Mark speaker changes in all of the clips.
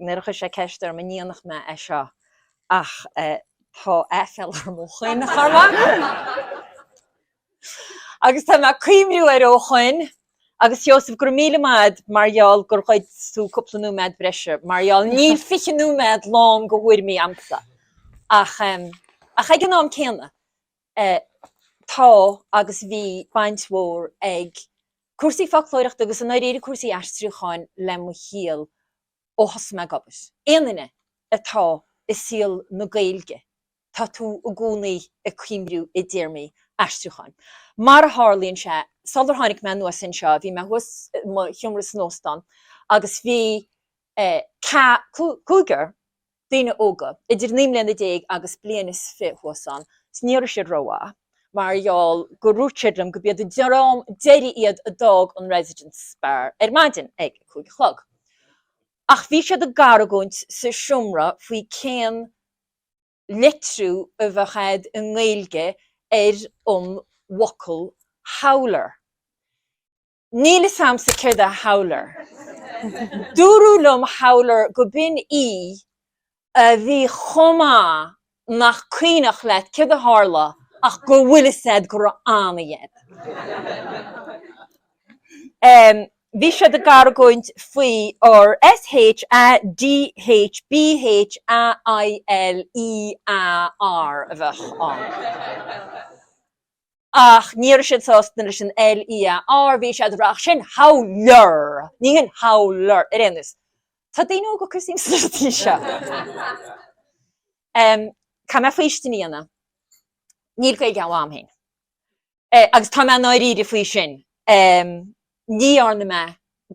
Speaker 1: Nuair a chuir sé ceist orm an ndéanfadh mé é seo ach tá aiféal orm ó shoin, a Chormaic, agus tá mé ag cuimhniú air ó shoin. Agus a Sheosaimh, go raibh míle maith agat mar gheall gur ghoid tú cúpla nóiméad breise mar gheall, níl fiche nóiméad lán de thuairimí a'msa ach ach ag an am céanna, Eh, tá agus bhí baint mhór ag cúrsaí foclóireachta agus i ndáiríre cúrsaí aistriúcháin le mo shaol ó thosaigh mé ag obair. Aon duine atá i saol na Gaeilge, tá tú i gcónaí ag coimriú i dtéarmaí aistriúcháin. Mar a tharlaíonn sé, sular tháinig mé anuas anseo bhí mé thuas i mo sheomra san óstán agus bhí, eh, ca, cú, cúigear daoine óga idir naoi mbliana déag agus bliain is fiche thuas ann, 's ní raibh siad rómhaith mar gheall gur dhúirt siad liom go b'iad an dream deiridh iad a d'fhág an Residence Bar ar maidin ag a cúig a chlog. Ach bhí siad ag argóint sa seomra faoi cén litriú a bheadh agat i nGaeilge ar an bhfocal 'howler'. Níl fhios a'msa céard é Howler. Dúradh liom Howler go b'in oíche a bhí chomh maith nach cuimhneach leat céard a tharla ach go bhfuil fhios a'd go raibh an-oíche a'd. Bhí siad ag argóint faoi ar S, H, A, D, H, B, H, A, I, L, E, A, R a bheadh ann. Ach ní raibh siad sásta leis an L, E, A, R, bhí siad ag rá ach sin Howler! Ní hin Howler! Ar aon nós, tá daoine óga ag cur suim inti seo. Caithfidh mé faoistin a dhéanamh. Níl Gaeilge mhaith a'm féin. Agus tá mé i ndáiríre faoi sin. ní dhearna mé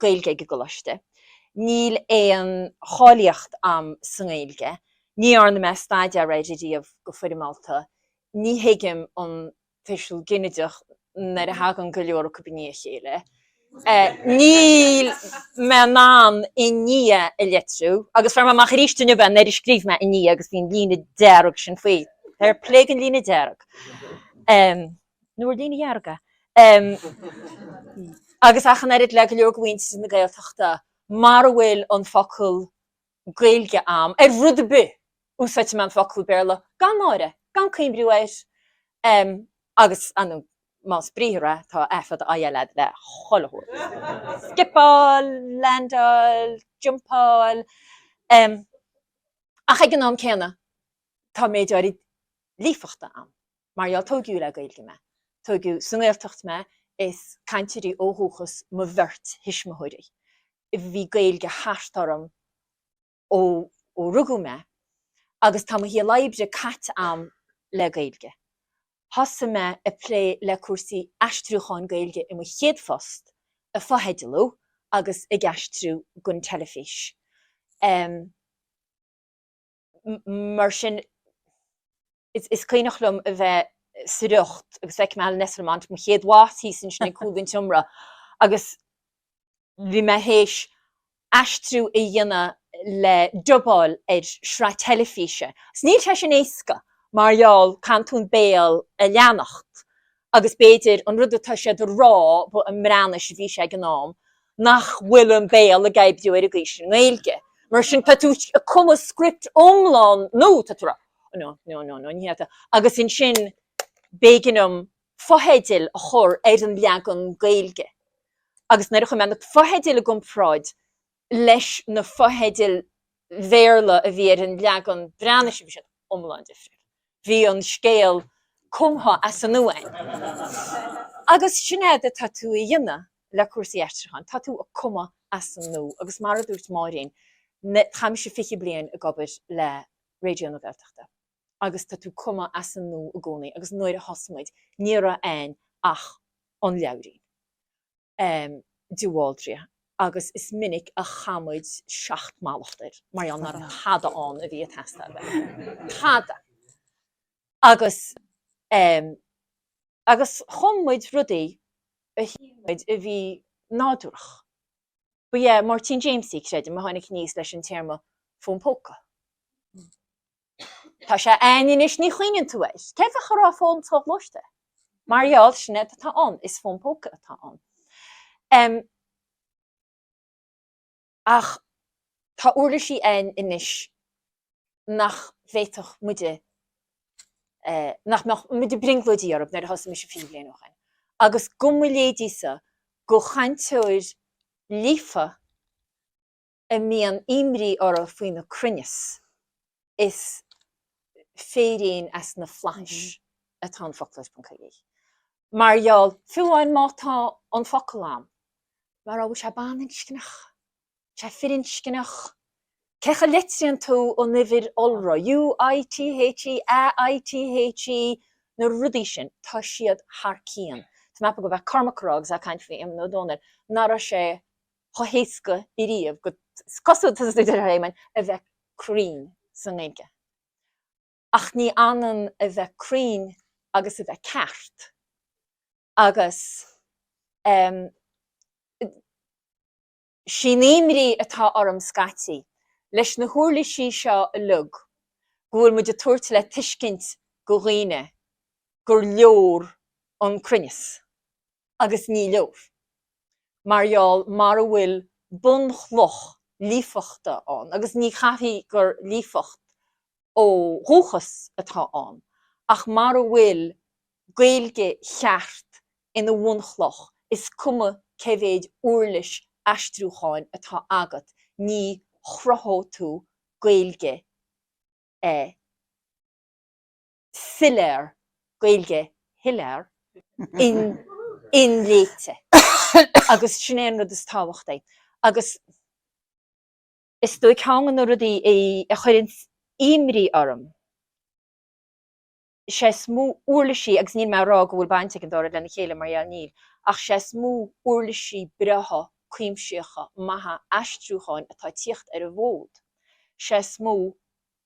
Speaker 1: Gaeilge ag an gColáiste, níl aon cháilíocht a'am sa nGaeilge, ní dhearna mé staidéar air ariamh go foirmeálta, ní thuigim an tuiseal ginideach nuair a thagann go leor acu i ndiaidh a chéile, níl mé in ann i ndiaidh a litriú agus fuair mé amach aríst inniu é nuair a scríobh mé i ndiaidh agus bhí an líne dearg sin faoi, fair play don líne dearg. nó an líne dhearg, em, agus ach an oiread le go leor de mhuintir na Gaeltachta, mara bhfuil an focal Gaeilge a'm, ar rud ar bith, úsáidfidh mé an focal Béarla gan náire, gan cuímriú air, em, agus, ah nó más briathar é, tá A fada, I, L a'd le chuile shórt, scipeáil, leaindeáil, jumpáil, em, ach ag an am céanna, tá méid áirid líofachta a'm. Mar gheall tóigiú le Gaeilge mé. Tóigiú sa nGaeltacht mé is cainteoirí ó dhúchas mo bheirt thuismitheoirí. Bhí Gaeilge thart orm ó rugadh mé agus tá mo shaol oibre caite a'm le Gaeilge. Thosaigh mé ag plé le cúrsaí aistriúcháin Gaeilge i mo chéad phost ag fotheidealú agus ag aistriú gon teilifís. mar sin is cuimhneach liom a bheith sa riocht agus feicim Alan Esslemont mo chéad bhoss thíos ansin ag cúl an tseomra agus bhí mé théis aistriú a dhéanamh le dubáil ar shraith teilifíse. Is níl sé sin éasca mar gheall caitheann tú an béal a leanacht agus b'fhéidir an rud atá sé dhá rá ba i mBreatnais a bhí sé ag an am, nach bhfuil an béal ag oibriú ar an gcaoi sin i nGaeilge. Mar sin tá tú ag cumadh script iomlán nua, tá tú ag rá no, no, no, no, ní hea, agus ansin b'éigean dom fotheidil a chur ar an leagan Gaeilge. Agus nuair a chuir mé na fotheidil i gcomparáid, leis na fotheidil Bhéarla a bhí ar an leagan Breatnaise, bhí siad iomlán difriúil. Bhí an scéal cumtha as an nua a'm. Agus sin éard atá tú a dhéanamh le cúrsaí aistriúcháin, tá tú a cumadh as an nua. Agus mar a dúirt Máirín, táimse fiche bliain ag obair le Raidió na Gaeltachta agus tá tú cumadh as an nua i gcónaí agus nuair a thosaigh muid ní raibh ann ach an leabhairín. de Bhaldraithe agus is minic a chaith muid seacht mallacht air mar gheall nach raibh tada ann a bhí ag teastáil uait. Tada! Agus agus chum muid rudaí a shíl muid a bhí nádúrach. Ba é Máirtín Jaimsie, creidim, a tháinig aníos leis an téarma 'fón póca'. Tá sé ann anois ní chuimhníonn tú air. Cé bheadh a rá fón soghluaiste? Mar gheall sin éard atá ann is fón póca atá ann. Em ach tá uirlisí ann anois nach bhféadfadh muide eh nach mbeadh muid ag brionglóidí orthu nuair a thosaigh mise fiche bliain ó shoin. Agus go mo leithéidí-sa go chainteoir líofa a mbíonn imní orthu faoina gcruinneas, is féirín as na flaithis atá in Foclóir.ie, mar gheall, fiú amháin má tá an focal a'm, mar an bhfuil sé baininscneach? Bhfuil sé firinscneach? Cén chaoi a litríonn tú an uimhir iolra, U, I, T, H, E, A, I, T, H, E, na rudaí sin, tá siad thar cionn. Tá mé ag ceapadh go raibh Cormac a' rá agus é a' caint faoi Éamonn Ó Dónaill, nach raibh sé, chomh héasca riamh go cosúil tá a fhios agat em a bheith cruinn sa nGaeilge. Ach ní hionann a bheith cruinn agus a bheith ceart agus em sin í an imní atá orm scaití leis na huirlisí seo uilig go bhfuil muid ag tabhairt le tuiscint go dhaoine gur leor an cruinneas. agus ní leor, mar gheall mara bhfuil bunchloch líofachta ann, agus ní chaithfidh gur líofacht ó dhúchas atá ann, ach mara bhfuil Gaeilge cheart ina bhunchloch, is cuma cé mhéid uirlis aistriúcháin atá agat, ní chruthóidh tú Gaeilge ar bith. soiléir, Gaeilge shoiléir, inléite. Agus sin é an rud is tábhachtaí. Agus is dóigh ceann de na rudaí a chuireanns imní orm, sé is mó uirlisí, agus níl mé ag rá go bhfuil baint ag an dá rud lena chéile mar gheall níl, ach sé is mó uirlisí breátha cuimsitheacha maithe aistriúcháin atá ag tíocht ar an bhfód, sé is mó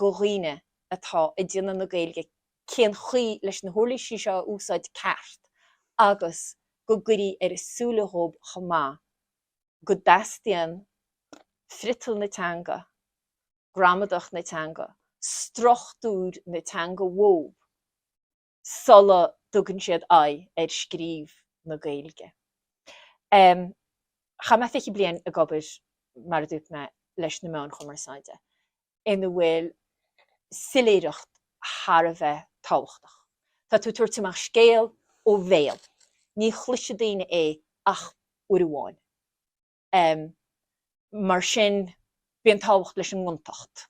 Speaker 1: go dhaoine atá ag déanamh na Gaeilge cén chaoi leis na huirlísí seo a úsáid ceart agus go gcuirfí ar a súile dhóib chomh maith go dteastaíonn friotal na teanga, gramadach na teanga, struchtúr na teanga uathub. sula dtugann siad aghaidh ar scríobh na Gaeilge. Chaith mé fiche bliain ag obair, mar a dúirt mé, leis na meáin chumarsáide, ina bhfuil soiléireacht thar a bheith tábhachtach. Tá tú ag tabhairt amach scéal ó bhéal. Ní chloisfidh daoine é ach uair amháin. mar sin bíonn tábhacht leis an ngontacht.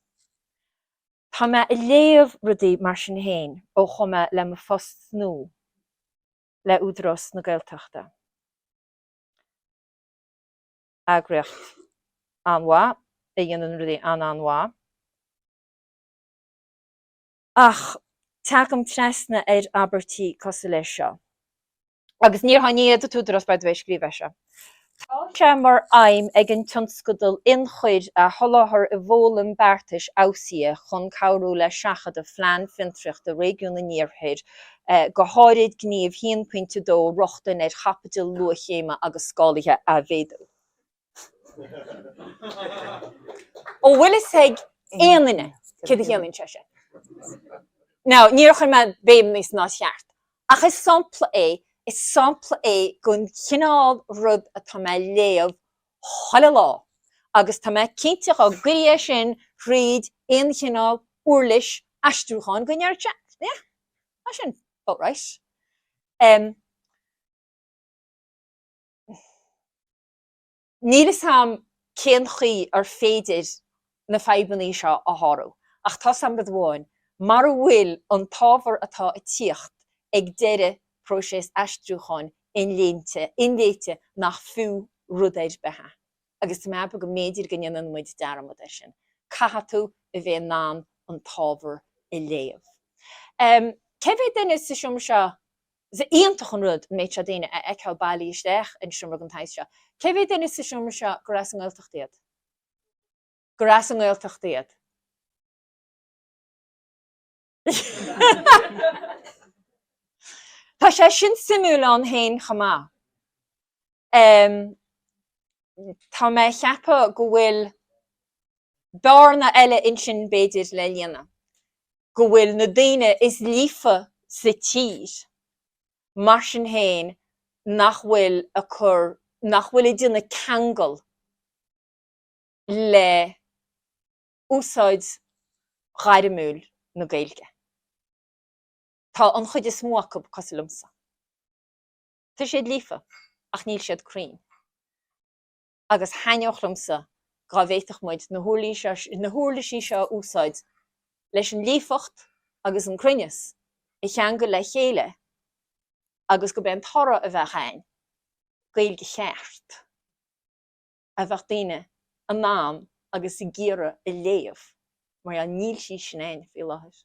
Speaker 1: Tá mé ag léamh rudaí mar sin féin ó chuaigh mé le mo phost nua le Údarás na Gaeltachta, eagraíocht an-mhaith a dhéanann rudaí an-an-mhaith. Ach teagaim trasna ar abairtí cosúil leis seo, agus níor sháinn iad, an tÚdarás Bard a bheith ag scríobh air seo. Tá sé mar aidhm ag an tionscadal ionchuir a sholáthar i bhfoghlaim beartais fheabhsaithe chun cabhrú le seachadadh Phlean Fiontraíochta Réigiún an Iarthair, go háirid Gníomh 1.2 Rochtain ar Chaipiteal Luathchéime agus Scálaithe a Mhéadú. An bhfuil fhios ag aon duine céard a chiallaíonn sé sin? Ná níor chuir mé béim air níos ná is cheart. Ach is sampla é, is sampla é den chineál rud atá mé a léamh chuile lá agus tá mé cinnte dhá gcuirinn é sin thríd aon chineál uirlis aistriúcháin go ndéarfadh sé, yeah, tá sin about right. Níl fhios a'am cén chaoi ar féidir na fadhbannaí seo a shárú, ach tá's a'm rud amháin, mara bhfuil an t-ábhar atá a' tíocht ag deireadh próiseas aistriúcháin inléinte, inléite, nach fiú rud ar bith é, agus tá mé a' ceapadh go mb'fhéidir go ndéanann muid dearmad ar sin, caithfidh tú a bheith in ann an t-ábhar a léamh. Cé mhéad duine sa seomra seo Is iontach an rud an méid seo daoine a fheiceáil bailithe isteach i seomra den tsaghas seo. Cé mhéad duine sa seomra seo gur as an nGaeltacht iad? gur as an nGaeltacht iad? Tá sé sin suimiúil ann féin chomh maith. Tá mé a cheapadh go bhfuil. bearna eile ansin b'fhéidir le líonadh go bhfuil na daoine is líofa sa tír mar sin féin nach bhfuil a cur nach bhfuil ag déanamh ceangal le úsáid ghairmiúil na Gaeilge. Tá an chuid is mó acu cosúil liomsa. Tá siad líofa ach níl siad cruinn. agus thaitneodh liomsa dhá bhféadfadh muid na huirlisí seo a úsáid leis an líofacht agus an cruinneas a cheangal le chéile agus gurb é an toradh a bheadh ann Gaeilge cheart a bheadh daoine in ann agus ag iarraidh a léamh mar níl sí sin ann faoi láthair.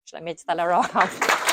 Speaker 1: Sin a bhfuil le rá.